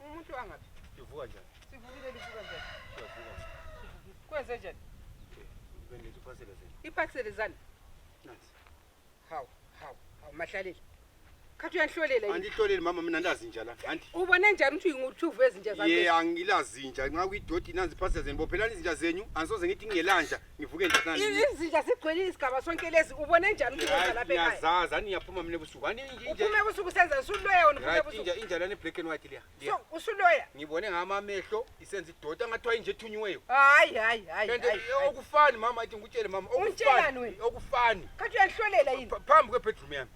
Umuntu angathi livuka njani? Sivukile livuka njani? Siyavuka. Sivukile. Kwenze njani? Eh, bengithi iphasela zani. Iphasela zani? Nansi. Hawu, hawu, hawu mahlalile. Khathi uyanhlolela yini? Andihloleli mama mina ndazi nje la. Anti. Ubone njani ukuthi nguthuvu ezinja zakhe? Yeah, angilazi nje. Nxa kuyidoti nanzi iphasela zeni. Bophelani izinja zenyu. Angisoze ngithi ngingelanja. ngivuke izinja zigcwele isigaba sonke lezi ubone njani ukuza lapha ekhaya ngiyazazi ani ngiyaphuma mina ebusuku ani uphume ebusuku senza usuloya wena uphume ebusuku inja inja lana black and white liya so usuloya ngibone ngama amehlo isenza idota ngathiwa inje ethunyiweyo hayi hayi hayi kanti okufani mama athi ngikutshele mama okufani okufani kanti uyanhlolela yini phambi kwebedroom yami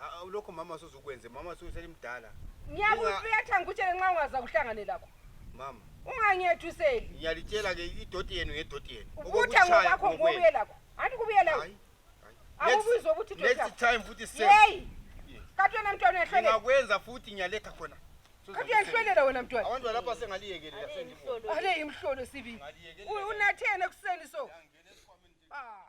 Ah, lokho mama suzukwenze mama suselimdala ngiyakuphetha ngikutshele nxa ungaza kuhlangane lakho mama ungangiyethuseli ngiyalitshela ke idoti yenu ngedoti yenu ukutha ngokwakho ngokuye lakho anti kubuye lakho akubizwa ukuthi next time futhi seyi kati wena mntwana uyahlwelela ngingakwenza futhi ngiyaletha khona kati uyahlwelela wena mntwana abantu balapha sengaliyekelela sengibona ale imhlolo sibili unathene ekuseni so ah